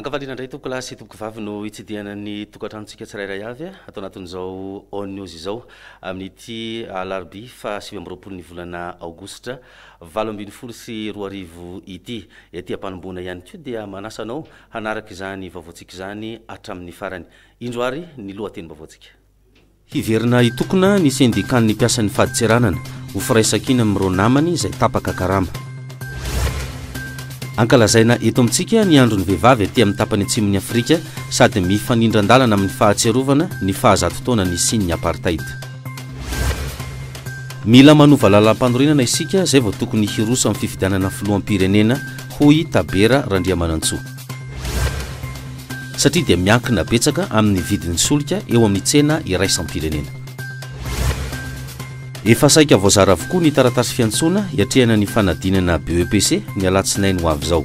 Ankavaliana indray tompoko lahy sy tompoko vavy no hitsidihana ny tokantranontsika tsirairay avy ato anatin'izao On News izao amin'ity alarobia fahasivy amby roapolo ny volana aogositra valo ambin'ny folo sy roa arivo ity. Ety am-panombohana ihany koa dia manasa anao hanaraka izany vaovaontsika izany hatramin'ny farany. Indro ary ny lohatenim-baovaontsika. Hiverina hitokona ny sendikan'ny mpiasan'ny fadintseranana ho firaisankina amin'ireo namany izay tapaka karama. Ankalazaina eto amintsika ny andron'ny vehivavy aty amin'ny tapany atsimon'i Afrika sady mifanindran-dalana amin'ny fahatsiarovana ny fahazato taona nisian'ny apartheid. Mila manova lalampanorenana isika izay vao tokony hiroso amin'ny fifidianana filoham-pirenena, hoy Tabera Randriamanantsoa. satria dia miankina betsaka amin'ny vidin'ny solika eo amin'ny tsena iraisam-pirenena. Efa saika voazara avokoa ny taratasy fiantsoana hiatrehana ny fanadinana BEPC ny alatsinainy ho avy izao.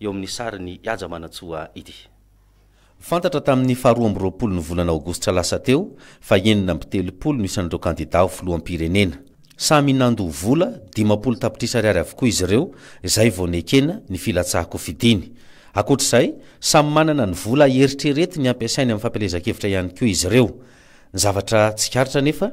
eo amin'ny sarin'i Haja Manantsoa ity. Fantatra tamin'ny faharoa amby roapolo ny volana aogositra lasa teo fa enina amby telopolo no isan'ireo kandidà ho filoham-pirenena. Samy nandoa vola dimampolo tapitrisa ariary avokoa izy ireo izay vao nekena ny filatsahan-kofidiny. Ankoatra izay, samy manana ny vola eritreretiny hampiasainy amin'ny fampielezan-kevitra ihany koa izy ireo. Ny zavatra tsikaritra anefa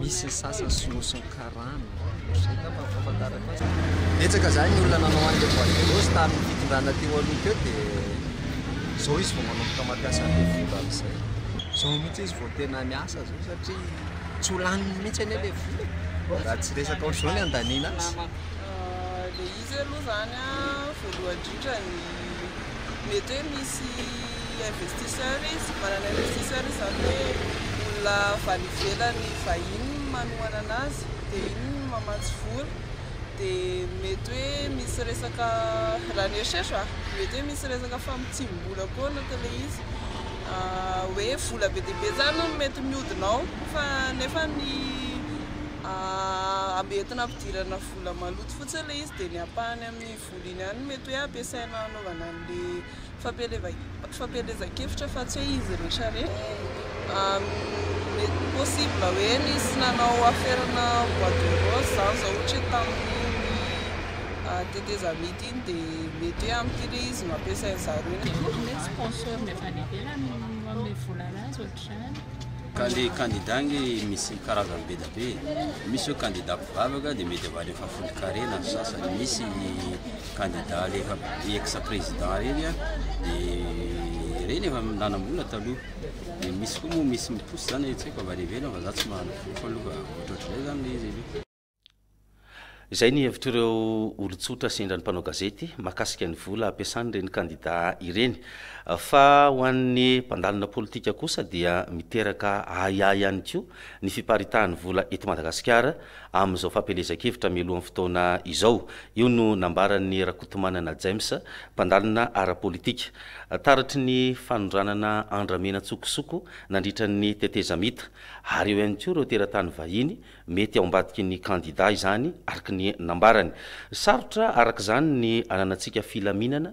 Misy ny sasany sinosin'ny karana. Izay angamba no fahafantarako azy. Betsaka izany ny olona nanao an'ilay boîte de rose tamin'ny fitondrana teo aloha teo dia izao izy vao manomboka mampiasa an'ilay vola amin'izay. Izao mihitsy izy vao tena miasa izao satria tsy ho laniny mihitsy anie ilay vola e! Raha tsy resaka ohatr'izao ny handaniana azy. Satria aloha izany voalohany indrindra ny mety hoe misy investisseur izy, manana investisseur izy izany hoe olona avy any ivelany vahiny no manohana anazy dia iny no mamatsy vola dia mety hoe misy resaka, raha ny eritreritro a, mety hoe misy resaka famotsiam-bola koa ao anatin'ilay izy, hoe vola be dia be izany no mety mihodina ao fa nefa ny entina hampidirana vola vola maloto fotsiny ilay izy dia ny ampahany amin'ny vola iny ihany no mety hoe ampiasaina hanaovana an'ilay fampielezan-kevitra fa tsy hoe izy rehetra ireny. Possible hoe nisy nanao aferana bois de rose izany izao ohatra hoe tamin'iny tetezamita iny dia mety hoe amin'ity ilay izy no ampiasain'ny zareo iny. Mety hoe sponsor avy any ivelany no manome vola an'azy ohatr'izany. Ka le candidat nge misy karazany be da be e, misy zao candidat Vavaka dia mety avadiny fahafolo carré na sasany misy candidat le efa ex président reny dia reny efa nanambola taloha dia misy koa moa misy miposy zany tsy haiko avy any ivelany fa za tsy mahalala fofo aloha fa ohatrohatr'izay zany le izy aloha Izay ny hevitr'ireo olon-tsotra sendra ny mpanao gazety mahakasika ny vola ampiasan'ireny kandida ireny. Fa ho an'ny mpandalina politika kosa dia miteraka ahiahy ihany koa ny fiparitahan'ny vola eto Madagasikara amin'izao fampielezan-kevitra mialohan'ny fotoana izao. Io no nambaran'i Rakotomanana James, mpandalina ara-politika, taratry ny fanondranana andramena an-tsokosoko nandritra ny tetezamita. Ary eo ihany koa ireo teratany vahiny mety ao ambadiky ny kandidà izany, araka ny nambarany. Sarotra araka izany ny ananantsika filaminana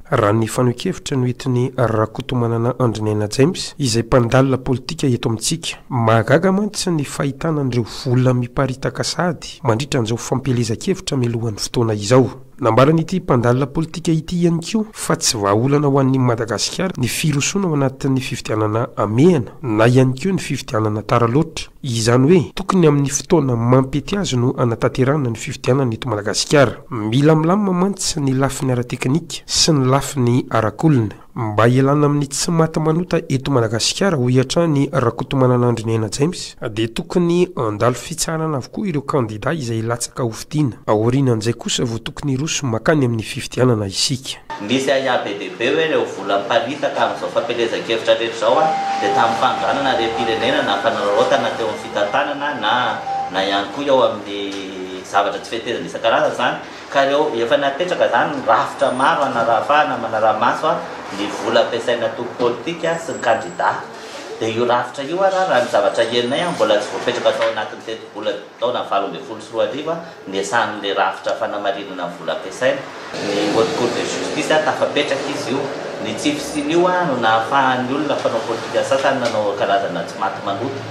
Raha ny fanehoan-kevitra noentin'i Rakotomanana Andriniaina James, izay mpandalina politika eto amintsika, mahagaga mantsy ny fahitana an'ireo vola miparitaka sahady mandritra an'izao fampielezan-kevitra mialohan'ny fotoana izao. Nambaran'ity mpandalina politika ity ihany koa fa tsy vahaolana ho an'i Madagasikara ny firosoana ao anatin'ny fifidianana hamehana na ihany koa ny fifidianana tara loatra. Izany hoe tokony amin'ny fotoana mampety azy no hanatanterahana ny fifidianana eto Madagasikara. Mila milamina mantsy ny lafiny ara-teknika sy ny lafiny arak'olona mba hialana amin'ny tsy maty manota eto Madagasikara, hoy hatrany Rakotomanana Andriniaina James, dia tokony handalo fitsaharana avokoa ireo kandida izay hilatsaka ho Dina. Aorianan'izay kosa vao tokony hiroso makany amin'ny fifidianana isika. Nisy ahiahy be dia be hoe ireo vola miparitaka amin'izao fampielezan-kevitra rehetra izao dia tamin'ny fanondranana harem-pirenena na fanararaotana teo amin'ny fitantanana na na ihany koa eo amin'ny zavatra tsy fetezina isan-karazany izany ka ireo efa napetraka izany ny rafitra maro hanarahafahana manara-maso ny vola ampiasain'ny antoko politika sy ny kandida dia io rafitra io ary raha ny zavatra henonay mbola tsy voapetraka tao anatin'ny tetibola taona valo ambin'ny folo sy roa arivo, niasan'ilay rafitra fanamarinana ny vola ampiasaina, ny Haute Cour de Justice, tafapetraka izy io. Ny tsy fisian'io no nahafahan'ny olona mpanao politika sasany nanao karazana tsy maty manota.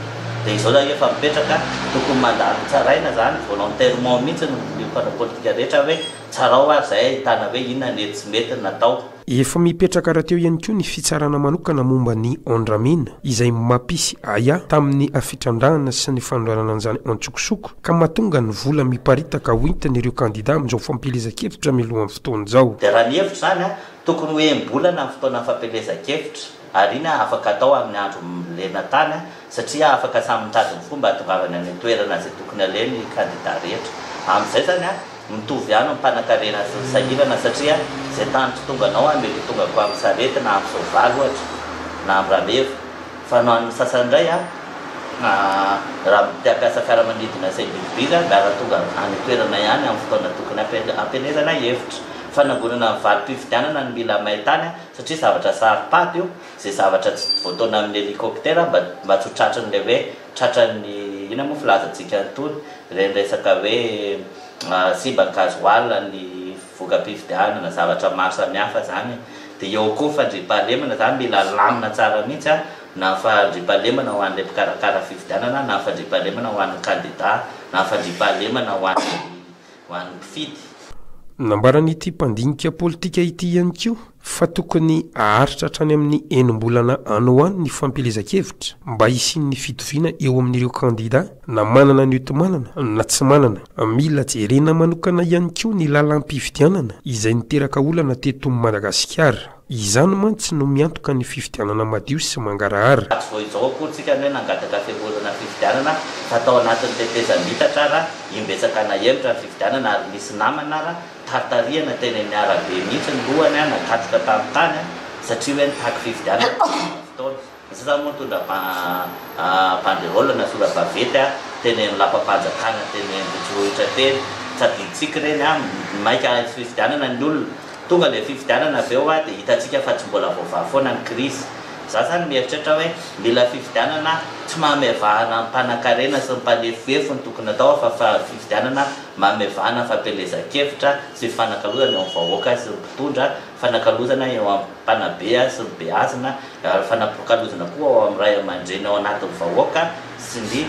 Dia izao raha efa mipetraka, tokony mandalo tsaraina izany, volontairement mihitsy ny mpanao politika rehetra hoe tsarao ary izay ahitana hoe inona ny mety sy mety natao. Efa mipetraka rahateo ihany koa ny fitsarana manokana momba ny Ondramin, izay mapisy ahiahy tamin'ny fitrandrahana sy ny fanondranana an'izany antsokosoko, ka mahatonga ny vola miparitaka hoentin'ireo kandida amin'izao fampielezan-kevitra mialohan'ny fotoana izao. Dia raha ny hevitro izany, tokony ho enim-bolana ny fotoanan'ny fampielezan-kevitra. Ariana afaka atao amin'ny andro lena tany satria afaka samy mitady ny fomba hahatongavany any an-toerana izay tokony haleha ny kandida rehetra. Amin'izay izany, mitovy ihany ny mpanankarena sy ny sahirana satria izay tany kitonganao any mety ho tonga koa amin'ny sarety na amin'ny soavaly ohatra na amin'ny rameva fa ny an'ny sasany indray raha mpiakasa fiaramanidina sy individy angaha tonga any an-toerana ihany amin'ny fotoana tokony hampielezana hevitra. Fanangonana ny valim-pifidianana ny mila may tany. satria zavatra saro-pady io, izay zavatra tsy voataona amin'ny helicoptère mba mba tsy ho tratran'ilay hoe tratran'ny inona moa filazantsika an'itony ireny resaka hoe simba ny gasoil, ny voka-pifidianana, zavatra maro samihafa izany e! dia eo koa ny fandriampahalemana izany mila alamina tsara mihitsy an! na ny fandriampahalemana ho an'ilay mpikarakara fifidianana na ny fandriampahalemana ho an'ny kandida na ny fandriampahalemana ho an'ny ho an'ny mpifidy. Nambaran'ity mpandinika politika ity ihany koa fa tokony haharitra hatrany amin'ny enim-bolana any ho any ny fampielezan-kevitra mba hisian'ny fitoviana eo amin'ireo kandida na manana ny hotomanana na tsy manana. Mila jerena manokana ihany koa ny lalam-pifidianana izay niteraka olana teto Madagasikara. Izany mantsy no miantoka ny fifidianana madio sy mangarahara. Tsy vao izao akory tsika no hoe nangataka fiangohorana fifidianana fa tao anatin'ny tetezamita ara imbetsaka nahemotra ny fifidianana ary nisy namana ara taritarihana teny amin'ny arabe mihitsy ny lohany nakatsika tamin'ny tany satria hoe nitaky fifidianana tamin'ny fotoana Tsy za moa nitondra banderole na sora-baventy teny amin'ny lapam-panjakana teny Ambohitsirohitra teny. Tsy adinontsika ireny an! Maika hisy fifidianana ny olona. Tonga ilay fifidianana avy eo dia hitantsika fa tsy mbola voavaha foana ny krizy. Za zany mieritreritra hoe mila fifidianana tsy mamevahana ny mpanankarena sy ny mpanefoefo no tokony atao fa fa fifidianana mamevahana fampielezan-kevitra sy fifanakalozana eo amin'ny vahoaka sy ny mpitondra, fifanakalozana eo amin'ny. mpanabe sy ny beazina, ary fanapoakalozana koa ao amin'ny ray aman-dreny ao anatin'ny vahoaka sy ny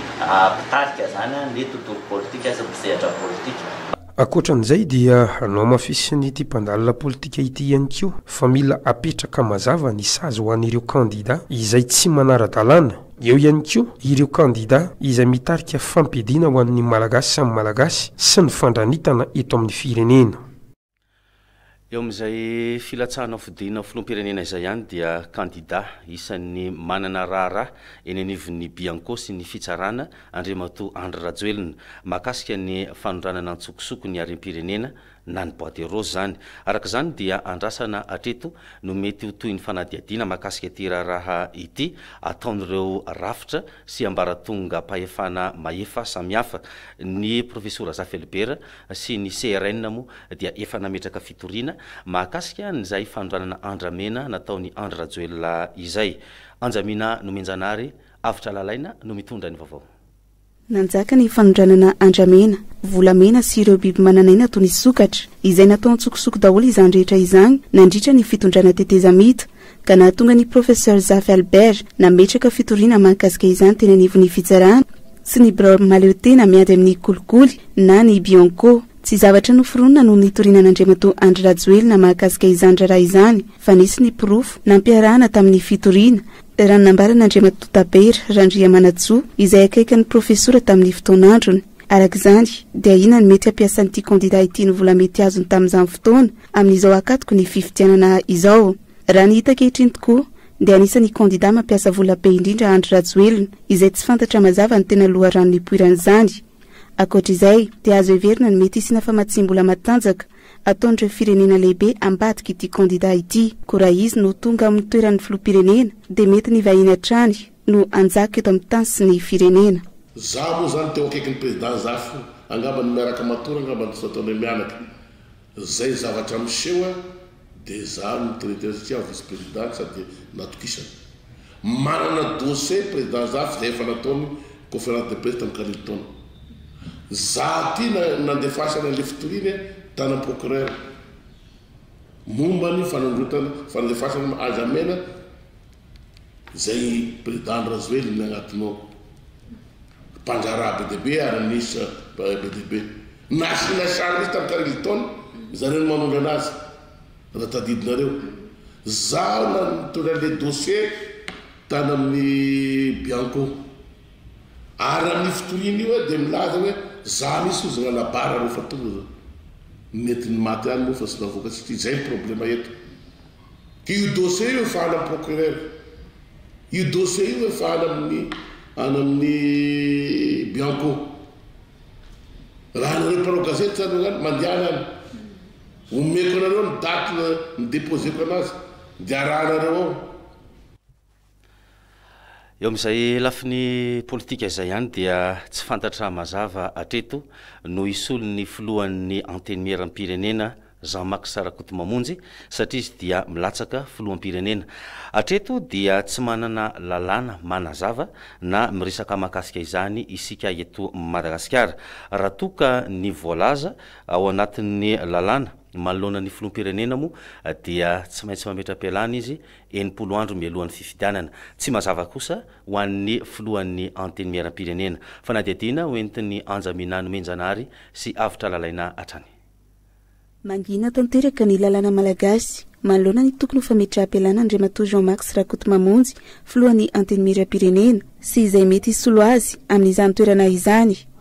mpitarika izany, ny tontolo politika sy ny mpisehatra politika. Ankoatra an'izay dia nohamafisin'ity mpandalina politika ity ihany koa fa mila apetraka mazava ny sazy ho an'ireo kandida izay tsy manara-dalàna, eo ihany koa ireo kandida izay mitarika fampiadiana ho an'ny Malagasy samy Malagasy sy ny fandranitana eto amin'ny firenena. Eo amin'izay filatsahana fodiana ho filoham-pirenena izay ihany dia kandida isan'ny manana raharaha eny anivon'ny Bianco sy ny Fitsarana Andriamatoa Andry Rajoelina mahakasika ny fanondranana an-tsokosoko ny harem-pirenena na ny boite rose izany. Araka izany dia andrasana hatreto no mety ho tohin'ny fanadihadiana mahakasika ity raharaha ity ataon'ireo rafitra sy ambaratongam-pahefana mahefa samihafa ny Profesora Zafy Albert sy ny CRN moa dia efa nametraka fitoriana mahakasika an'izay fanondranana andramena nataon'i Andry Rajoelina izay. Anjamina Nomenjanahary, Avotra Lalaina no mitondra ny vaovao. Nanjaka ny fanondranana andramena, volamena sy ireo biby manan'aina toy ny sokatra, izay natao an-tsokosoko daholo izany rehetra izany nandritra ny fitondrana tetezamita. ka nahatonga ny Professeur Zafy Albert nametraka fitoriana mahakasika izany teny anivon'ny fitsarana sy ny birao mahaleo tena miady amin'ny kolikoly na ny Bianco. Tsy zavatra noforonina no nitoriana an'Andriamatoa Andry Rajoelina mahakasika izany raharaha izany fa nisy ny porofo nampiarahana tamin'ny fitoriana, raha ny nambaran'Andriamatoa Tabera Randriamanantsoa izay akaiky an'ny Profesora tamin'ny fotoan'androny. Araka izany dia ahiana ny mety hampiasan'ity kandida ity ny vola mety azony tamin'izany fotoana amin'izao hakatoko ny fifidianana izao. Raha ny hita ankehitriny tokoa dia anisan'ny kandida mampiasa vola be indrindra Andry Rajoelina, izay tsy fantatra mazava ny tena loharano nipoiran'izany. Ankoatra izay dia azo heverina ny mety hisiana famatsiam-bola matanjaka ataon'ireo firenena lehibe ambadik'ity kandida ity. Koa raha izy no tonga amin'ny toeran'ny filoham-pirenena dia mety ny vahiny hatrany no hanjaka eto amin'ny tany sy ny firenena. Za moa zany teo akaikin'i président Zafy io, angamba ny miaraka matory angamba no tsy nataonay mianaka. Zay zavatra miseho a de zah no traiteur satria vice président ka sady natokisana. Manana dossier président zah f'izay efa nataony conférence de presse tam karivo taona. Zah ty nandefasany anle fitoriany tana procureur mombany fanondrotana fandefasana haja mena. Zay president rajoelina agnatiny ao mpangaraha be dia be ary minisitra be dia be na asiana sary mihitsy tamin'ny carlton zareo no manondrana azy raha tadidinareo zaho na nitondra le dossier tany amin'ny bianco ary amin'ny fitoriana io aho dia milaza hoe za mihitsy ozy nanabara reo fa tonga zao nentiny maty any moa fa tsy navoaka tsy ity zay ny problema eto Io dossier io efa any amin'ny procureur. Io dossier io efa any amin'ny any amin'ny Bianco. Raha anareo mpanao gazety zany no any, mandehana any. Omeko anareo ny date nideposeko anazy dia arahanareo ao. Eo amin'izay lafiny politika izay ihany dia tsy fantatra mazava hatreto no hisolo ny filohan'ny Antenimieram-pirenena Jean Max Rakotomamonjy satria izy dia milatsaka filoham-pirenena. Hatreto dia tsy manana lalàna manazava na miresaka mahakasika izany isika eto Madagasikara. Raha toa ka ny voalaza ao anatin'ny lalàna manoloana ny filoham-pirenena moa dia tsy maintsy mametra-pialana izy enimpolo andro mialohan'ny fifidianana. Tsy mazava kosa ho an'ny filohan'ny Antenimierampirenena. Fanadihadiana ho entin'ny Anja Minah Nomenjanahary sy Avotra Lalaina hatrany. Mangina tanteraka ny lalàna malagasy manoloana ny tokony ho fametraham-pialana Andriamatoa Jean Max Rakotomamonjy, filohan'ny Antenimierampirenena, sy izay mety hisolo azy amin'izany toerana izany.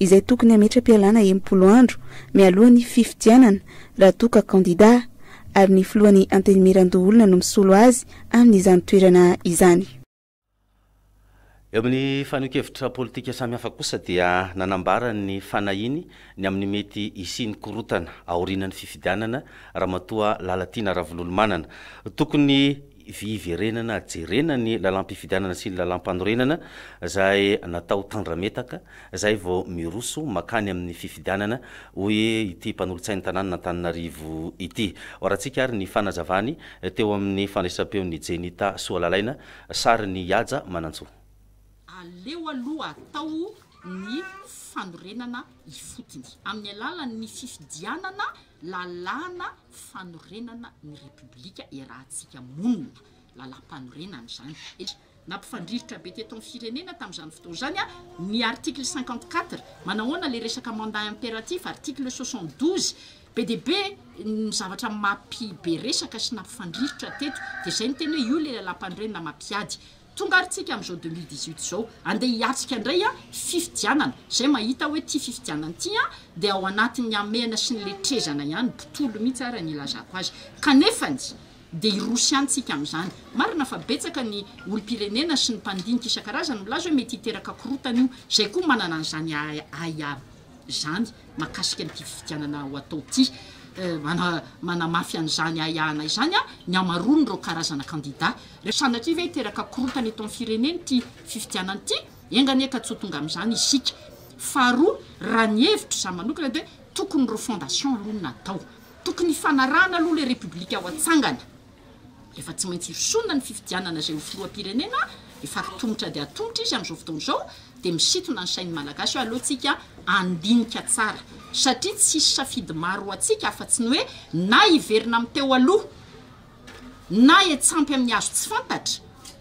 izay tokony hametra-pialana enimpolo andro mialoha ny fifidianana raha toa ka kandida, ary ny filohan'ny Antenimierandoholona no misolo azy amin'izany toerana izany. Eo amin'ny fanehoan-kevitra politika samihafa kosa dia nanambara ny fanahiany ny amin'ny mety hisian'ny korontana aorianan'ny fifidianana Ramatoa Lalatiana Ravololomanana. Tokony fiverenana jerena ny lalam-pifidianana sy ny lalam-panorenana izay natao tandrametaka izay vao miroso makany amin'ny fifidianana, hoy ity mpanolotsain'ny tanànan'Antananarivo ity. Hoarantsika ary ny fanazavany teo amin'ny fandraisam-peon'i Jenita Soalalaina, sarin'i Ihaja Manantsoa. Aleo aloha atao ny fanorenana ifotony amin'ny alalan'ny fifidianana. Lalàna fanorenana ny Repoblika iarahantsika monina, lalàmpanorenana izany, satria nampifandrirotra be teto amin'ny firenena tamin'izany fotoana izany ny article cinquante quatre, manahoana ilay resaka mandat impératif, article soixante douze, be dia be ny zavatra mampi-be resaka sy nampifandrirotra teto, dia izay no tena hoe io ilay lalàmpanorenana mampiady Tonga ary tsika amizao deux mille dix huit zao andeha hiatrika ndray an fifidianana zay mahita hoe ty fifidianana ty an dia ao anatin'ny hamehana sy ny letrezana ihany botolo mihitsy ara ny ilazako azy kanefany dia hiroso ihany tsika amizany marina fa betsaka ny olompirenena sy ny mpandinika isan-karazany milaza hoe mety hiteraka korotana io zay koa manana an'izany ahiahy izany mahakasika an'ity fifidianana ho atao ity. Manamafy an'izany ahiahana izany ny hamaroan'ireo karazana kandida. Sanatria ve hiteraka korontana eto amin'ny firenena ity fifidianana ity? Enga anie ka tsy ho tonga amin'izany isika. Faharoa, raha ny hevitro izaho manokana dia tokony refondation aloha no natao. Tokony hifanarahana aloha ilay Repoblika ho atsangana. Efa tsy maintsy hosorona ny fifidianana izay ho filoham-pirenena efa hatomotra dia hatomotra izy amin'izao fotoana izao dia misintona ny sain'ny Malagasy hoe aleontsika handinika tsara satria tsisy safidy maro ho antsika afa-tsy ny hoe na hiverina amin'ny teo aloha na hiantsampy amin'ny hazo tsy fantatra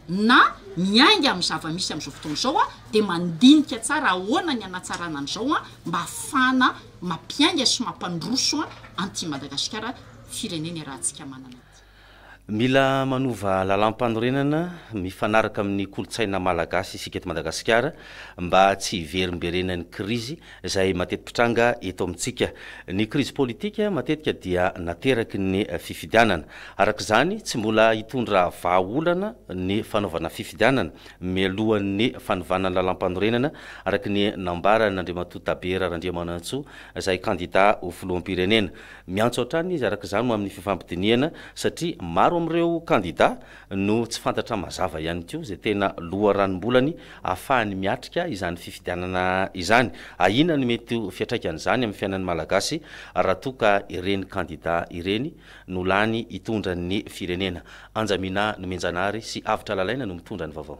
na miainga amin'ny zava-misy amin'izao fotoana izao a dia mandinika tsara ahoana ny hanatsarana an'izao a mba hahafahana mampiainga sy mampandroso a an'ity Madagasikara firenena iarahantsika manana ity. Mila manova lalam-panorenana mifanaraka amin'ny kolontsaina malagasy isika eto Madagasikara mba tsy hiverimberenan'ny krizy izay mateti-pitranga eto amintsika. Ny krizy politika matetika dia nateraky ny fifidianana. Araka izany, tsy mbola hitondra vahaolana ny fanaovana fifidianana mialohan'ny fanovana ny lalam-panorenana, araka ny nambaran'Andriamatoa Tabera Randriamanantsoa, izay kandidà ho filoham-pirenena. Miantso hatrany izy araka izany ho amin'ny fifampidinihana satria maro amin'ireo kandida no tsy fantatra mazava ihany koa izay tena loharanom-bolany ahafahany miatrika izany fifidianana izany. Ahiana ny mety ho fiantraikan'izany amin'ny fiainan'ny Malagasy raha toa ka ireny kandida ireny no lany hitondra ny firenena. Anjamina Nomenjanahary sy Avotra Lalaina no mitondra ny vaovao.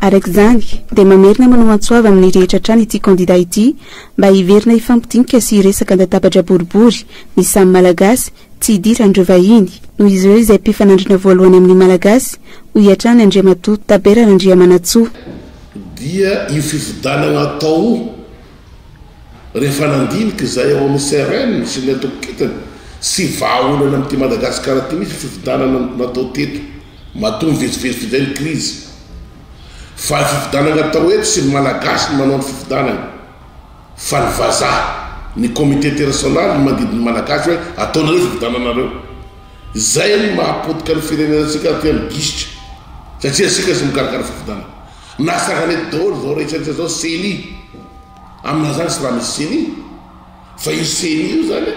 Araka izany, dia mamerina manao antsoava amin'ny rehetra hatrany ity kandida ity mba hiverina hifampidinika sy hiresaka an-databatra boribory ny samy Malagasy, tsy hidiran'ireo vahiny, noho izy ireo izay mpifanandrina voalohany amin'ny Malagasy, hoy hatrany Andriamatoa Tabera Randriamanantsoa. dia io fifidanagna atao rehefa nandinika izay ao amin'ny CRN sy ny antoko kintana sy vahaolana amin'ity Madagasikara ity mihitsy fifidanana natao teto. Matoa mivezivezy toy izay ny krizy, fa ny fifidianana atao eto sy ny Malagasy no manao ny fifidianana, fa ny vazaha, ny comité international no mandidy ny Malagasy hoe ataonareo fifidiananareo. Izay no mahapotika ny firenenantsika aty amin'ny gisitra, satria isika sy mikarakara fifidianana. Nahatsangana eto daholo izao rehetra rehetra izao ceni, amin'izany tsy raha misy ceni. Fa io ceni io zany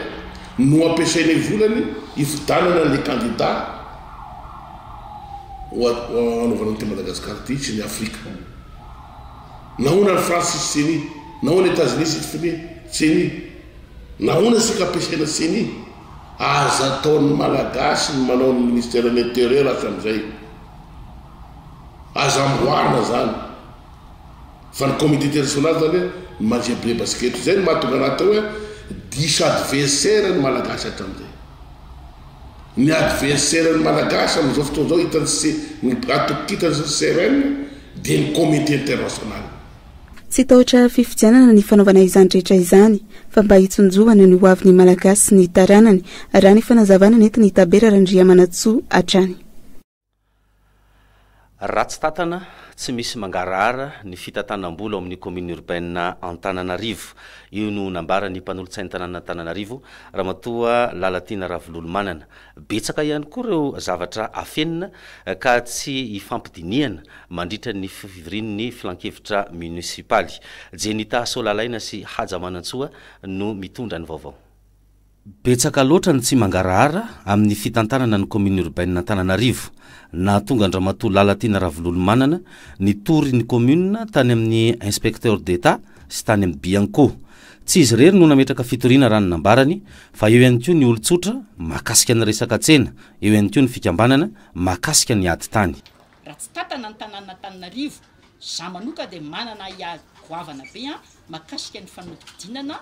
no ampiasainay volany hifidanana anle kandida ho hanaovana an'ity Madagascar ity sy ny Afrika. Nahoana any France tsisy ceni? Nahoana Etats-Unis tsisy fine ceni? Nahoana isika ampiasaina ceni? Aza ataon'ny Malagasy ny manao ny ministère ny interieur hatramin'izay. Aza amboarina zany. Fa ny comité international zany hoe manjebre basikety zay no mahatonga anazy atao hoe diso adversaire ny malagasy hatramzay. Ny adversaire ny malagasy amzao fotoana zao hitan'i se ny atokitany CRM dia ny comité international. Tsy tahotra fifidianana ny fanaovana izany rehetra izany fa mba hitsinjovana ny hoavin'ny malagasy sy ny taranany, raha ny fanazavana nentin'i Tabera Randriamanantsoa hatrany. Ratsy tàtana, tsy misy mangarahara ny fitantanam-bola ao amin'ny Commune Urbaine Antananarivo. Io no nambaran'ny mpanolotsain'ny tanànan'Antananarivo, Ramatoa Lalatiana Ravololomanana. Betsaka ihany koa ireo zavatra afenina ka tsy ifampidinihana mandritra ny fivorian'ny filankevitra monisipaly. Jenita Solalaina sy Haja Manantsoa no mitondra ny vaovao. Betsaka loatra ny tsy mangarahara amin'ny fitantanana ny Commune Urbaine Antananarivo. Nahatonga an-dRamatoa Lalatiana Ravololomanana nitory ny Commune tany amin'ny Inspecteur d'Etat sy tany amin'ny Bianco. Tsy izy irery no nametraka fitoriana raha ny nambarany fa eo ihany koa ny olon-tsotra mahakasika ny resaka tsena, eo ihany koa ny fikambanana mahakasika ny ady tany. Raha tsy tantana ny tanànan'Antananarivo, za manoka dia manana ahiahy goavana be mahakasika ny fanodidinana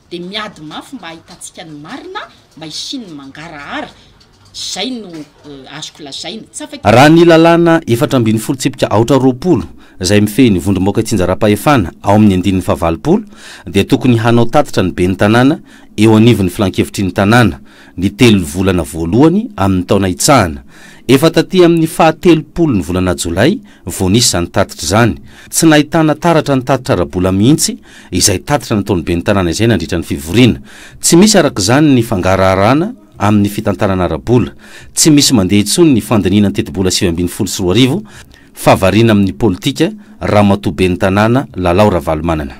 dia miady mafy mba hahitantsika ny marina mba hisian'ny mangarahara, izay no azoko lazaina. Tsy afaka. Raha ny lalàna efatra ambin'ny folo tsipika aotra roapolo, izay mifehy ny vondrombaoka itsinjaram-pahefana ao amin'ny andininy fahavalopolo, dia tokony hanao tatitra ny ben'ny tanàna eo anivon'ny filankevitry ny tanàna, ny telo volana voalohany amin'ny taona hitsahana. Efa taty amin'ny fahatelopolon'ny volana jolay Vao nisy izany tatitra izany, tsy nahitana taratra ny tatitra ara-bola mihitsy izay tatitra nataon'ny ben'ny tanàna izay nandritra ny fivoriana. Tsy misy araka izany ny fangaraharana amin'ny fitantanana ara-bola. Tsy misy mandeha intsony ny fandinihina ny tetibola sivy ambin'ny folo sy roa arivo fa variana amin'ny politika Ramatoa ben'ny tanàna Lalao Ravalomanana.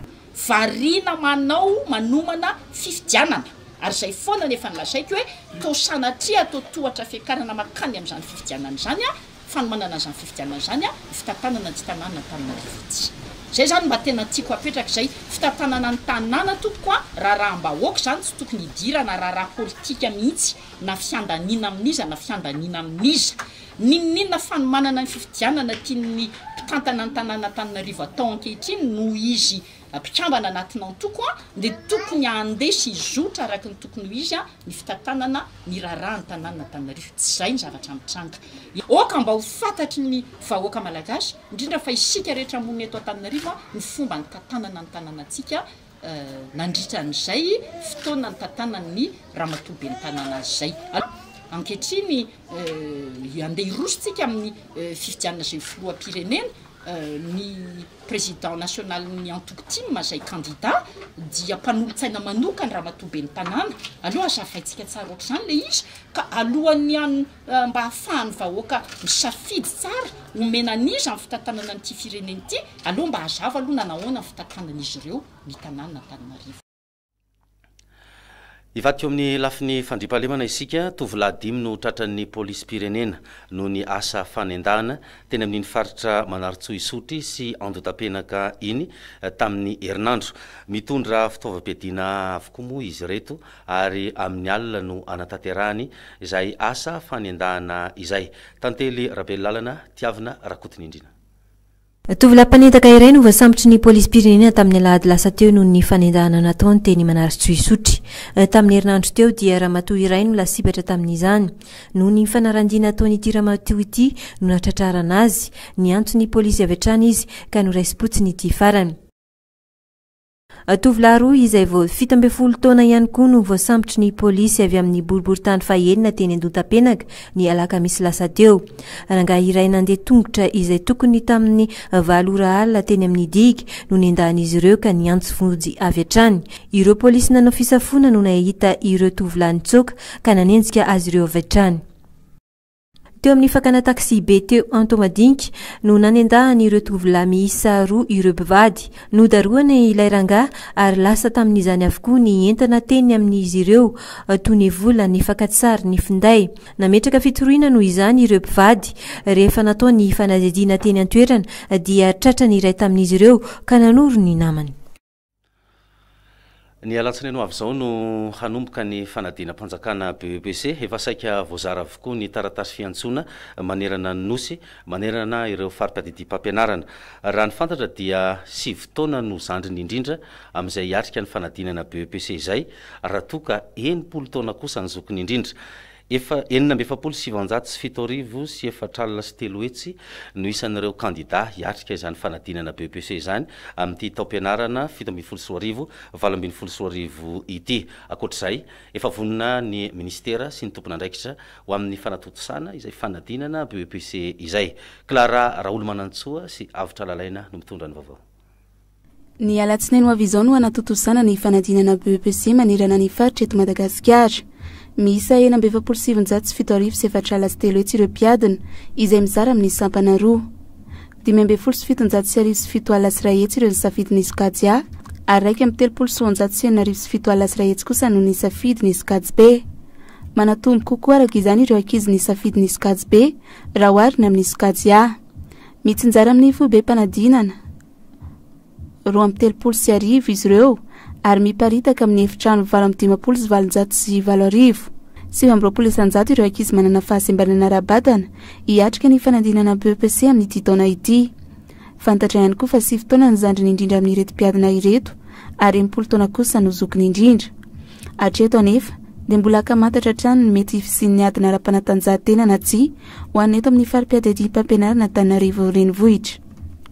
Variana manao manomana fifidianana ary izay foana ny efa nolazaiko hoe toa sanatria toa tohatra fiakarana mankany amin'izany fifidianana izany fanomanana izany fifidianana izany ho fitantanana ity tanàna Antananarivo ity. Izay izany mba tena tiako hapetraka izay, fitantanana ny tanàna tompoko a! Raharaham-bahoaka izany tsy tokony hidirana raharaha politika mihitsy na fiandaniana amin'iza na fiandaniana amin'iza. N'inon'inona fanomanana ny fifidianana tian'ny mpitantana ny tanàna Antananarivo atao ankehitriny noho izy mpikambana anatin'ny antoko dia tokony handeha sy hizotra araka ny tokony ho izy ny fitantanana ny raharahan'ny tanànan'Antananarivo. Tsy izay ny zavatra mitranga. Aoka mba ho fantatry ny vahoaka malagasy, indrindra fa isika rehetra monina eto Antananarivo ny fomba nitantanana ny tanànantsika nandritra an'izay fotoana nitantanan'ny ramatoa ben'ny tanàna azy izay. Ankehitriny handeha hiroso tsika amin'ny fifidianana izay filoham-pirenena ny. Président nationalin'ny antoko tim izay kandida dia mpanolotsaina manokany Ramatoa Ben'ny Tanàna. Aleo hazavaintsika tsara ohatr'izany ilay izy ka alohan'ny han mba hahafahan'ny vahoaka misafidy tsara omena an'iza ny fitantanana an'ity firenena ity, aleo mba hazava aloha na nahoana ny fitantanan'izy ireo ny tanàn'Antananarivo. Hivady teo amin'ny lafiny fandriampahalemana isika, tovolahy dimy no tratran'ny polisim-pirenena noho ny asa fanendahana teny amin'iny faritra Manarintsoa Isotry sy Andotapenaka iny tamin'ny herinandro. Mitondra fitaovam-piadiana avokoa moa izy ireto ary amin'ny alina no anatanterahany izay asa fanendahana izay. Tantely Rabelolàlana, Tiavina Rakotonindrina. Tovolahy mpanendaka iray no voasambotry ny polisim-pirenena tamin'ny alahady lasa teo noho ny fanendahana nataony teny Manarintsoisotry. Tamin'ny herinandro teo dia ramatoa iray no lasibatra tamin'izany. Noho ny fanaran-dia nataon'ity ramatoa ity no nahatratrarana azy. Niantso ny polisy avy hatrany izy ka noraisim-potsiny ity farany. Tovolahy roa izay vao fito ambin'ny folo taona ihany koa no voasambotry ny polisy avy amin'ny boriborintany fahenina teny Andontampenaka, ny alakamisy lasa teo. Rangahy iray nandeha tongotra izay tokony tamin'ny valo ora alina teny amin'ny digue no nendahan'izy ireo ka niantso vonjy avy hatrany. Ireo polisy nanao fisafoana no nahita ireo tovolahy nitsoaka ka nanenjika azy ireo avy hatrany. Teo amin'ny fakana taksibe teo Antohomadinika no nanendahan'ireo tovolahy miisa roa ireo mpivady. Nodarohana ilay rangahy ary lasa tamin'izany avokoa ny entana teny amin'izy ireo toy ny vola, ny fakantsary, ny finday. Nametraka fitoriana noho izany ireo mpivady. Rehefa natao ny fanadihadiana teny an-toerana dia tratran'ny iray tamin'izy ireo ka nanoro ny namany. Ny alatsinainy ho avy izao no hanomboka ny fanadinam-panjakana BEPC. Efa saika voazara avokoa ny taratasy fiantsoana manerana ny Nosy, manerana ireo fari-tadidiam-pampianarana. Raha ny fantatra dia sivy taona no zandriny indrindra amin'izay hiatrika ny fanadinana BEPC izay, raha toa ka enimpolo taona kosa ny zokiny indrindra. Efa enina amby efapolo sy sivinjato sy fito arivo sy efatra alina sy telo hetsy no isan'ireo kandidà hiatrika izany fanadinana BEPC izany amin'ity taom-pianarana fito ambin'ny folo sy roa arivo, valo ambin'ny folo sy roa arivo ity. Ankoatra izay, efa vonona ny minisitera sy ny tompon'andraikitra ho amin'ny fanatontosana izay fanadinana BEPC izay. Clara Raholomanantsoa sy Avotra Lalaina no mitondra ny vaovao. Ny alatsinainy ho avy izao no hanatontosana ny fanadinana BEPC manerana ny faritra eto Madagasikara. Miisa enina amby efapolo sy sivinjato sy fito arivo sy efatra ala sy telo hetsy ireo mpiadina, izay mizara amin'ny sampana roa. Dimy ambin'ny folo sy fitonjato sy arivo sy fito ala sy iray hetsy ireo nisafidy ny sokajy A, ary iraika amby telopolo sy roanjato sy enina arivo sy fito ala sy iray hetsy kosa no nisafidy ny sokajy B. Manatombo kokoa araka izany ireo ankizy nisafidy ny sokajy B raha oharina amin'ny sokajy A. Mitsinjara amin'ny foibem-panadinana. roa amby telopolo sy arivo izy ireo ary miparitaka amin'ny efitrano valo amby dimampolo sy valonjato sy valo arivo. Sivy amby roapolo isanjato ireo ankizy manana fahasembanana ara-batana hiatrika ny fanadinana BEPC amin'ity taona ity. Fantatra ihany koa fa sivy taona ny zandriny indrindra amin'ireto mpiadina ireto ary enimpolo taona kosa no zokiny indrindra. Hatreto anefa dia mbola ankamantatra hatrany ny mety fisian'ny adina ara-panatanjahantena na tsia ho an'ny eto amin'ny fari-piadidiam-pampianarana Antananarivo Renivohitra.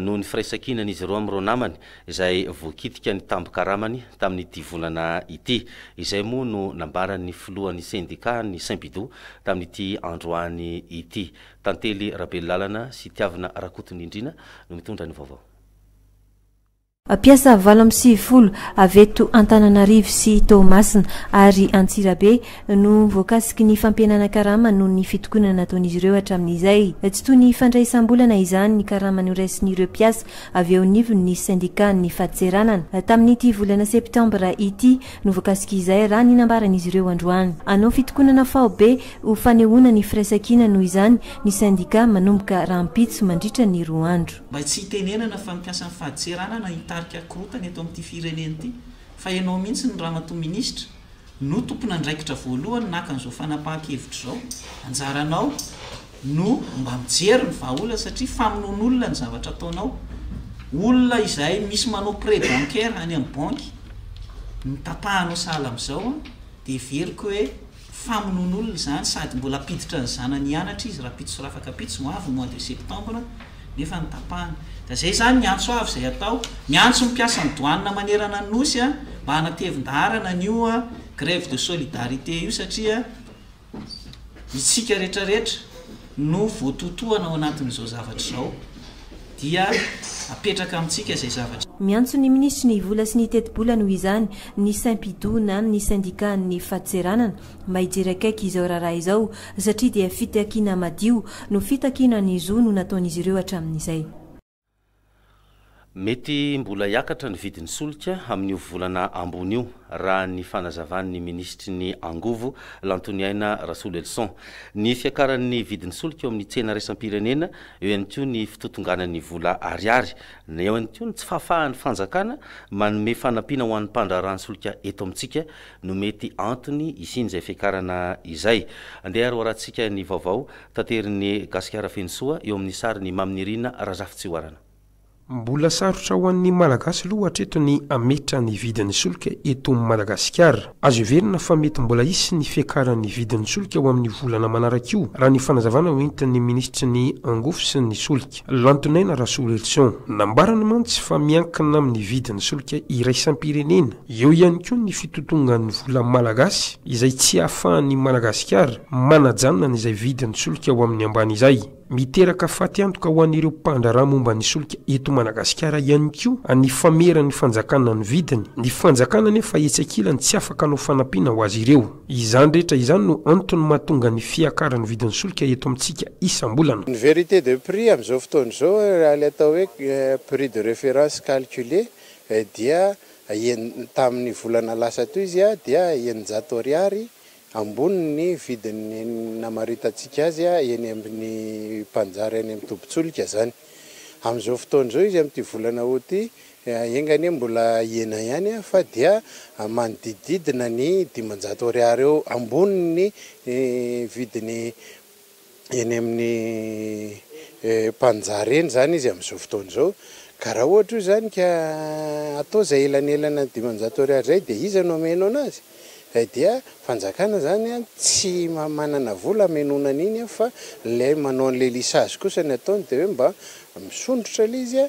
noho ny firaisankinan'izy ireo amin'ireo namany izay voakitika ny tambin-karamany tamin'ity volana ity. Izay moa no nambaran'ny filohan'ny sendikà an'ny Synpido tamin'ity androany ity. Tantely Rabelolàlana sy Tiavina Rakotonindrina no mitondra ny vaovao. Mpiasa valo amby sivifolo avy eto Antananarivo sy Toamasina ary Antsirabe no voakasiky ny fampihenana karama noho ny fitokonana nataon'izy ireo hatramin'izay. Tsy toy ny fandraisam-bolana izany ny karama noraisin'ireo mpiasa avy eo anivon'ny sendikàn'ny fadintseranana. Tamin'ity volana septambra ity no voakasika izay raha ny nambaran'izy ireo androany. Hanao fitokonana faobe ho fanehoana ny firaisankina noho izany ny sendikà manomboka rahampitso mandritra ny roa andro. Mba tsy hitenenana fa mikasa ny fahadiseranana hitarika korontana eto amin'ity firenena ity fa ianao mihitsy ny Ramatoa Minisitra no tompon'andraikitra voalohany naka an'izao fanapahan-kevitra izao, anjaranao no mba mijery ny vahaolana satria famonoan'olona ny zavatra ataonao, olona izay misy manao prêt bancaire any amin'ny banky no tapahanao sahala amin'izao dia heveriko hoe. Famonoan'olona izany sady mbola hampiditra ny zanany hianatra izy rahampitso sy rafakampitso ho avy ny mois de septembre nefa ny tapahana. Ka izay izany ny antso avy izay atao. Miantso ny mpiasan'ny douane manerana ny Nosy mba hanatevin-daharana an'io grève de solidarité io satria isika retraretra no voatotohana ao anatin'izao zavatra izao dia apetraka amintsika izay zavatra. Miantso ny minisitry ny vola sy ny tetibola noho izany ny Simpidu na ny sendikàn'ny faditseranana mba hijery akaiky izao raharaha izao satria dia fitakiana madio no fitakiana ny zo no nataon'izy ireo hatramin'izay. Mety mbola hiakatra ny vidin'ny solika amin'io volana ambony io, raha ny fanazavan'ny minisitry ny Angovo, Lantoniaina Rasolelison. Ny fiakaran'ny vidin'ny solika eo amin'ny tsena iraisam-pirenena, eo ihany koa ny fitotonganan'ny vola ariary, eo ihany koa ny tsy fahafahan'ny fanjakana manome fanampiana ho an'ny mpandraharaha ny solika eto amintsika, no mety antony hisian'izay fiakarana izay. Andeha ary hoarahantsika ny vaovao taterin'i Gasikara feno soa eo amin'ny sarin'i Mamy Nirina Razafitsihoarana. Mbola sarotra ho an'ny Malagasy aloha hatreto ny hametra ny vidin'ny solika eto Madagasikara. Azo heverina fa mety mbola hisy ny fiakaran'ny vidin'ny solika ho amin'ny volana manaraka io, raha ny fanazavana hoentin'ny minisitry ny angofo sy ny solika. Lantonaina Rasolelison. Nambarany mantsy fa miankina amin'ny vidin'ny solika iraisam-pirenena, eo ihany koa ny fitotongan'ny vola malagasy izay tsy ahafahan'i Madagasikara manajanona izay vidin'ny solika ho amin'ny ambany izay. Miteraka faty antoka ho an'ireo mpandraharaha momba ny solika eto Madagasikara ihany koa ny fameran'ny fanjakana ny vidiny, ny fanjakana anefa etsy ankilany tsy afaka hanao fanampiana ho azy ireo. Izany rehetra izany no antony mahatonga ny fiakaran'ny vidin'ny solika eto amintsika isam-bolana. Ny vérité de prix amin'izao fotoana izao, raha ilay atao hoe prix de référence calculé, dia tamin'ny volana lasa toy izy dia eninjato ariary ambony ny vidiny namaritantsika azy eny amin'ny mpanjary any amin'ny tobin-tsolika izany. Amin'izao fotoana izao izy amin'ity volana aout ity Enga anie mbola hiena ihany aho fa dia manodidididina ny dimanjato ariary eo ambony ny vidiny eny amin'ny mpanjary eny izany izy amin'izao fotoana izao. Ka raha ohatra io izany ka atao izay elanelanan'ny dimanjato ariary izay dia iza no hameno anazy? Izay dia fanjakana izany an, tsy manana vola hamenoana an'iny an fa ilay manao an'ilay lisage kosa ny ataony dia hoe mba misondrotra ilay izy an,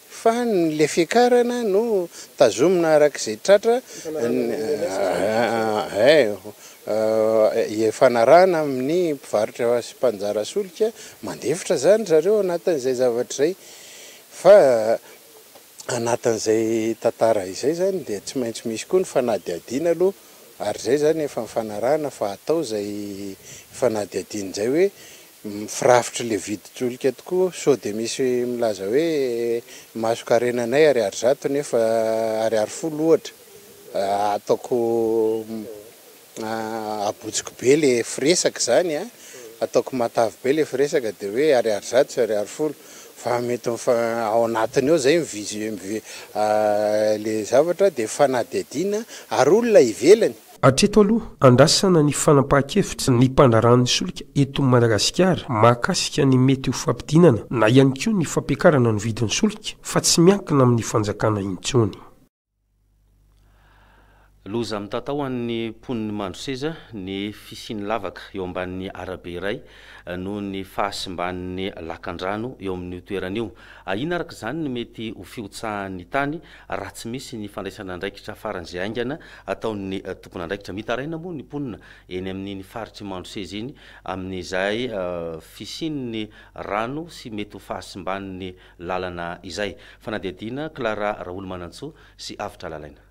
Fa ny le fiakarana no tazomina araka izay tratra ifanarahana amin'ny mpivarotra sy mpanjara solika, mandefitra izany zareo anatin'izay zavatra izay fa anatin'izay tantara izay izany dia tsy maintsy misy koa ny fanadihadiana aloha ary izay izany efa nifanarahana fa hatao izay fanadihadiana izay hoe Mifirafitry le vidin-tsolika tokoa, sao de misy milaza hoe mason-karenanay ariary zato nefa ariary folo ohatra, ataoko abotsiko be le firesaka izany a, ataoko matavy be le firesaka de hoe ariary zato sy ariary folo fa mety mifa- ao anatiny ao zay ny vision le zavatra de fanadihadiana ary olona ivelany Hatreto aloha, andrasana ny fanapahan-kevitra ny mpandraharahan'ny solika eto Madagasikara mahakasika ny mety ho fampidinana na ihany koa ny fampiakarana ny vidin'ny solika fa tsy miankina amin'ny fanjakana intsony. Loza mitatao ho an'ny mponin'i Mandroseza ny fisian'ny lavaka eo ambanin'ny arabe iray noho ny fahasimban'ny lakandrano eo amin'io toerana io. Ahiana araka izany ny mety ho fihotsahan'ny tany raha tsy misy ny fandraisana andraikitra faran'izay haingana ataon'ny tompon'andraikitra. Mitaraina moa ny mponina eny amin'iny faritr'i Mandroseza iny amin'izay fisian'ny rano sy mety ho fahasimban'ny lalana izay. Fanadihadiana, Clara Raolomanantsoa sy Avotra Lalaina.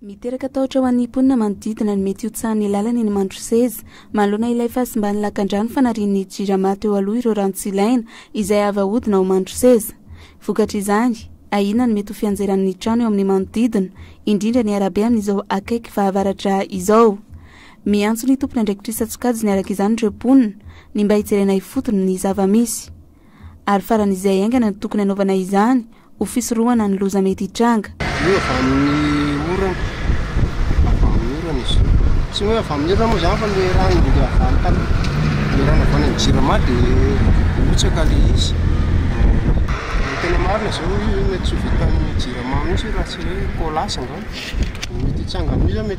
Miteraka tahotra ho an'ny mponina manodidina ny mety hotsahan'ny lalana eny Mandroseza. Manoloana ilay fahasimban'ny lakandrano fanarian'ny Jirama teo aloha ireo rano tsy ilaina izay avo ahodina ao Mandroseza. Vokatr'izany, ahiana ny mety ho fianjeran'ny trano eo amin'ny manodidina, indrindra ny arabe amin'izao akaiky fahavaratra izao. Miantso ny tompon'andraikitrisa an-tsokajiny araka izany ireo mponina, ny mba hijerena ifotony ny zava-misy. Ary faran'izay haingana no tokony hanaovana izany ho fisorohana ny loza mety hitranga. Avy eo avy amin'ny orana, avy amin'ny orana izy io. Tsy hoe avy amin'ny orana moa izany fa ilay rano mandeha avy any tany, ilay rano avy any amin'ny Jirama dia mihotsaka ilay izy. Raha tena marina izao hoe mety tsy ho vitan'ny Jirama mihitsy io raha tsy hoe Colas angamba. Mety hitsanga amin'io izany.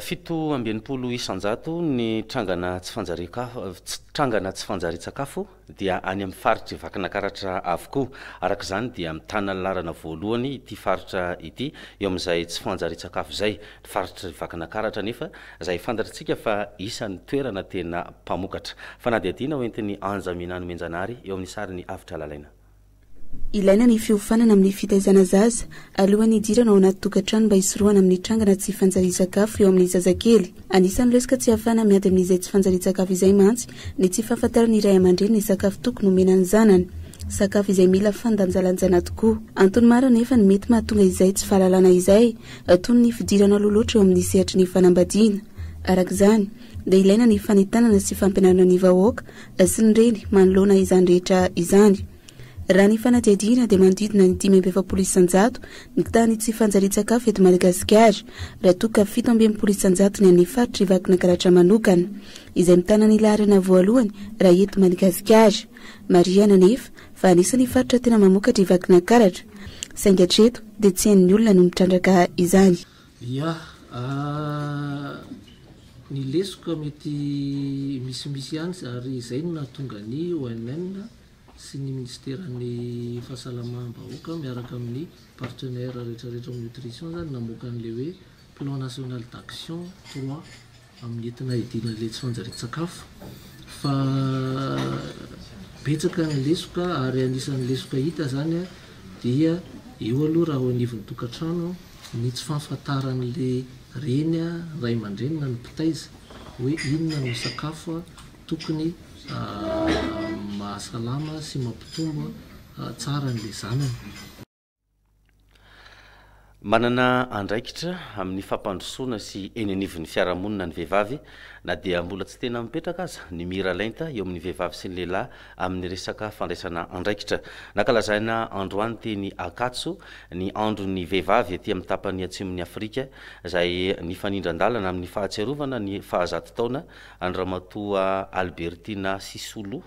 Fito amby enimpolo isan-jato ny trangana tsy fanjarian-kafo, trangana tsy fanjarian-tsakafo dia any amin'ny faritr'i Vakinakaratra avokoa. Araka izany dia mitana ny laharana voalohany ity faritra ity eo amin'izay tsy fanjarian-tsakafo izay. Ny faritr'i Vakinakaratra anefa izay fantatr'tsika fa isan'ny toerana tena mpamokatra. Fanadihadiana hoentin'i Anja Minany Menjanary eo amin'ny sarin'i Avo Tralalaina. Ilaina ny fiofanana amin'ny fitaizana zaza alohan'ny hidirana ao anaty tokantrano mba hisorohana amin'ny trangana tsy fanjarian-tsakafo eo amin'ny zazakely. Anisan'ny lesoka tsy ahafahana miady amin'izay tsy fanjarian-tsakafo izay mantsy ny tsy fahafantaran'ny ray aman-dreny ny sakafo tokony homena ny zanany, sakafo izay mila fandanjalanjana tokoa. Antony maro anefa no mety mahatonga izay tsy fahalalana izay, toy ny fidirana aloha loatra eo amin'ny sehatry ny fanambadiana. Araka izany. dia ilaina ny fanentanana sy fampianarana ny vahoaka sy ny reny manoloana izany rehetra izany. Raha ny fanadihadiana dia manodidina ny dimy amby efapolo isan-jato ny tany tsy fanjarian-tsakafo eto Madagasikara, raha toa ka fito amby enimpolo isan-jato ny an'ny faritra Ivakinankaratra manokana, izay mitana ny laharana voalohany raha eto Madagasikara. Marihana anefa fa anisan'ny faritra tena mamokatra Ivakinankaratra, saingy hatreto dia tsy hain'ny olona no mitrandraka izany. Ia ahh ny lesoka mety misimisy ihany ary izay no nahatonga ny ONN sy ny Minisiteran'ny fahasalamam-bahoaka miaraka amin'ny partenaires rehetrarehetra ao amin'ny nutrition izany namoaka an'ilay hoe plan national d'action trois amin'ny entina hiadiana an'ilay tsy fanjarian-tsakafo fa betsaka ny lesoka ary anisan'ny lesoka hita zany dia eo aloha raha ao anivon'ny tokantrano ny tsy fahafantaran'ilay reny ray aman-dreny na ny mpitaiza hoe inona no sakafo tokony mahasalama sy mampitombo tsara an'ilay zanany. Manana andraikitra amin'ny fampandrosoana sy eny anivon'ny fiarahamonina ny vehivavy, na dia mbola tsy tena mipetraka aza ny miralenta eo amin'ny vehivavy sy ny lehilahy amin'ny resaka fandraisana andraikitra. Nankalazaina androany teny Akatso ny andron'ny vehivavy ety amin'ny tapany atsimon'i Afrika, izay nifanindran-dalana amin'ny fahatsiarovana ny fahazato taona an'i Ramatoa Albertina Sisulu,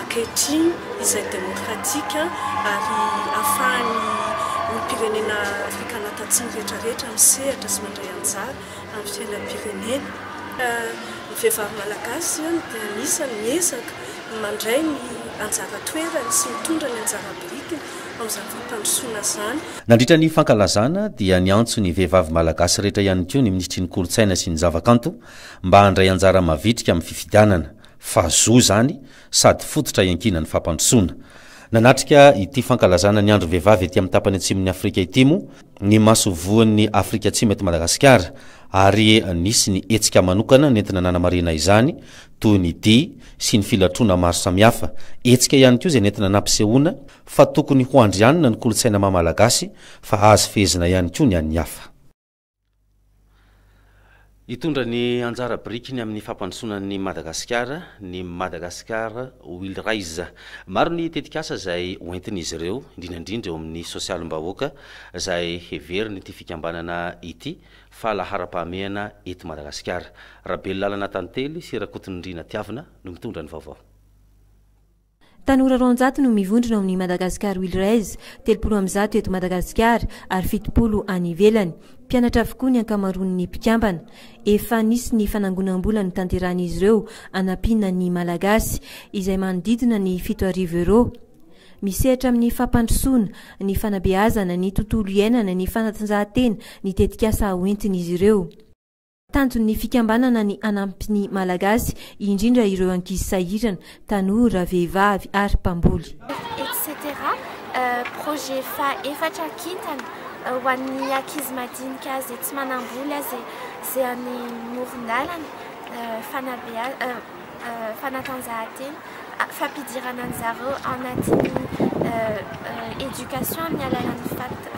ankehitriny izay demokratika ary ahafahan'ny olom-pirenena Afrikana Tatsimo rehetrarehetra misehatra sy mandray anjara amin'ny fiainam-pirenena. Ny vehivavy malagasy dia anisan'ny miezaka mandray ny anjara toerany sy mitondra ny anjara biritiny amin'izany fampandrosoana izany. Nandritra ny fankalazana dia niantso ny vehivavy malagasy rehetra ihany koa ny minisitry ny kolontsaina sy ny zavakanto mba handray anjara mavitrika amin'ny fifidianana. fa zo izany sady fototra iankinan'ny fampandrosoana. Nanatrika ity fankalazana ny Andron'ny Vehivavy ety amin'ny tapany atsimon'i Afrika ity moa ny masoivohon'i Afrika Atsimo eto Madagasikara ary nisy ny hetsika manokana nentina nanamarihana izany toy ny dihy sy ny filatroana maro samihafa. Hetsika ihany koa izay nentina nampisehoana fa tokony ho andrianina ny kolontsaina maha-malagasy fa azo fehezina ihany koa ny an'ny hafa. Hitondra ny anjara birikiny amin'ny fampandrosoana an'i Madagasikara ny Madagascar Will Rise. Maro ny tetikasa izay hoentin'izy ireo, indrindra indrindra eo amin'ny sosialim-bahoaka, izay heverin'ity fikambanana ity fa laharam-pahamehana eto Madagasikara. Rabelolala Natantely sy Rakotondriana Tiavina no mitondra ny vaovao. Tanora roanjato no mivondrona ao amin'ny Madagascar Will Raise, telopolo amin'ny zato eto Madagasikara ary fitopolo any ivelany. Mpianatra avokoa ny ankamaroan'ny mpikambana. Efa nisy ny fanangonam-bola notanterahin'izy ireo hanampiana ny Malagasy, izay manodidina ny fito arivo euros. Misehatra amin'ny fampandrosoana, ny fanabeazana, ny tontolo iainana, ny fanatanjahantena ny tetikasa hoentin'izy ireo. Tanjon'ny fikambanana ny hanampy ny Malagasy, indrindra ireo ankizy sahirana, tanora, vehivavy ary mpamboly. Etc. Projet faha-efatra kintana ho an'ny ankizy madinika izay tsy manam-bola izay any moron-dalana, fanabeazana. fanatanjahantena, fampidirana an-dry zareo ao anatin'ny éducation amin'ny alalan'ny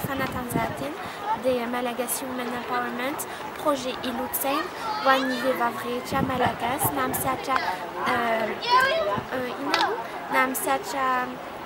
fanatanjahantena dia Malagasy Women Empowerment, projet Ilotsaina ho an'ny vehivavy rehetra malagasy na misatra inona moa na misatra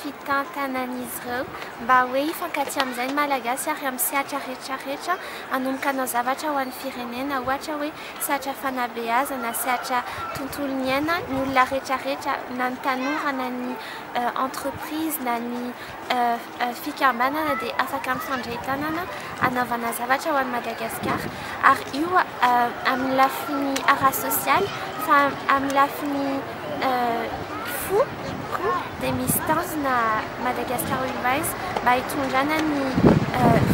fitantanan'izy ireo mba hoe hifankatia amin'izay ny Malagasy ary amin'ny sehatra rehetra rehetra hanomboka hanao zavatra ho an'ny firenena ohatra hoe sehatra fanabeazana, sehatra tontolo niaina ny olona rehetra rehetra na ny tanora na ny entreprise na ny fikambanana dia afaka mifandray tanana hanaovana zavatra ho an'i Madagasikara ary io amin'ny lafiny ara-sosialy fa amin'ny lafiny fo Ihany koa dia misy tanjona Madagascar Revives mba hitondrana ny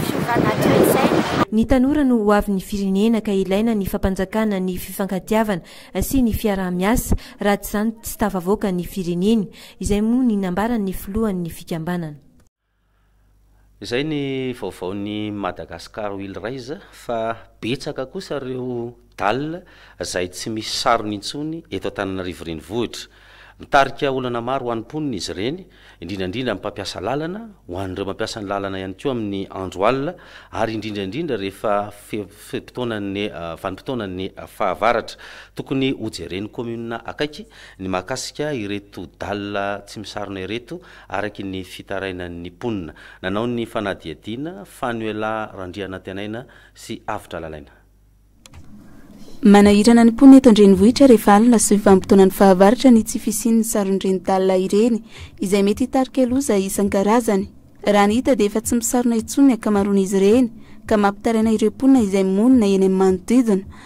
fiovana toetsaina. Ny tanora no ho avin'ny firenena ka ilaina ny fampanjakana ny fifankatiavana sy ny fiaraha-miasa raha tsy izany tsy tafavoaka ny fireneny, izay moa ny nambaran'ny filohan'ny fikambanana. Izay ny vaovaon'i Madagascar will rise fa betsaka kosa ireo dall izay tsy misy sarony intsony eto Antananarivo renivohitra. Mitarika olana maro ho an'ny mponina izy ireny, indrindra indrindra amin'ny mpampiasa lalana, ho an'ireo mampiasa ny lalana ihany koa amin'ny andro alina ary indrindra indrindra rehefa fe-potoanan'ny vanim-potoanan'ny fahavaratra. Tokony hojeren'ny commune akaiky ny mahakasika ireto dall tsy misarona ireto. Araka ny fitarainan'ny mponina, nanao ny fanadihadiana, Fanuella Randrianantenaina sy Avotra Lalaina. Manahirana ny mponina eto an-drenivohitra rehefa alina sy vanim-potoanan'ny fahavaratra ny tsy fisian'ny saron-dreny dalina ireny, izay mety hitarika loza isan-karazany. Raha ny hita dia efa tsy misarona intsony ny ankamaroan'izy ireny, ka mampitaraina ireo mponina izay monina eny amin'ny manodidina.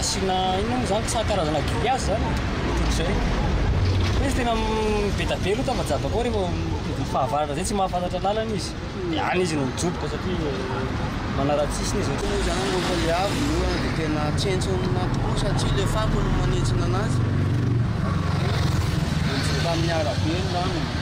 Asiana inona moa izany sa karazana grillage izany e? Ohatr'izay. Fa izy tena mivedavela io tava jabaka ao rehefa mividy fahavaratra izay tsy mahafantatra lalana izy. Dia any izy no mijoboka satria manara-tsisiny izy. Io izany rehefa ilay avy ny orana dia tena tsentsina tokoa satria ilay fako no manentsina anazy. Dia mijoboka amin'ny arabe ny lalana.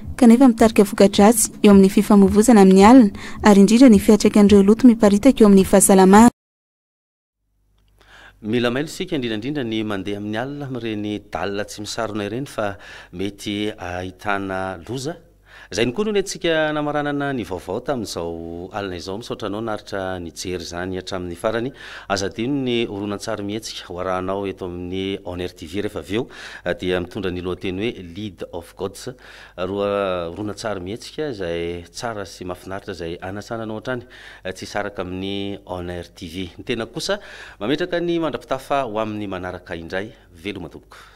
kanefa mitarika voka-dratsy eo amin'ny fifamoivoizana amin'ny alina ary indrindra ny fiantraikan'ireo loto miparitaka eo amin'ny fahasalamana. Mila mailo isika, indrindra indrindra ny mandeha amin'ny alina amin'ireny dalina tsy misarona ireny fa mety ahitana loza. Izay no koa no nentintsika namaranana ny vaovao tamin'izao alina izao. Misaotra anao naritra nijery izany hatramin'ny farany. Aza adino ny horonantsary mihetsika ho arahanao eto amin'ny Onr TV rehefa avy eo dia mitondra ny lohateny hoe Lead of Gods, roa horonantsary mihetsika izay tsara sy mahafinaritra izay hanasana anao hatrany tsy hisaraka amin'ny On Air TV. Ny tenako kosa mametraka ny mandra-pitafa ho amin'ny manaraka indray. Veloma tompoko.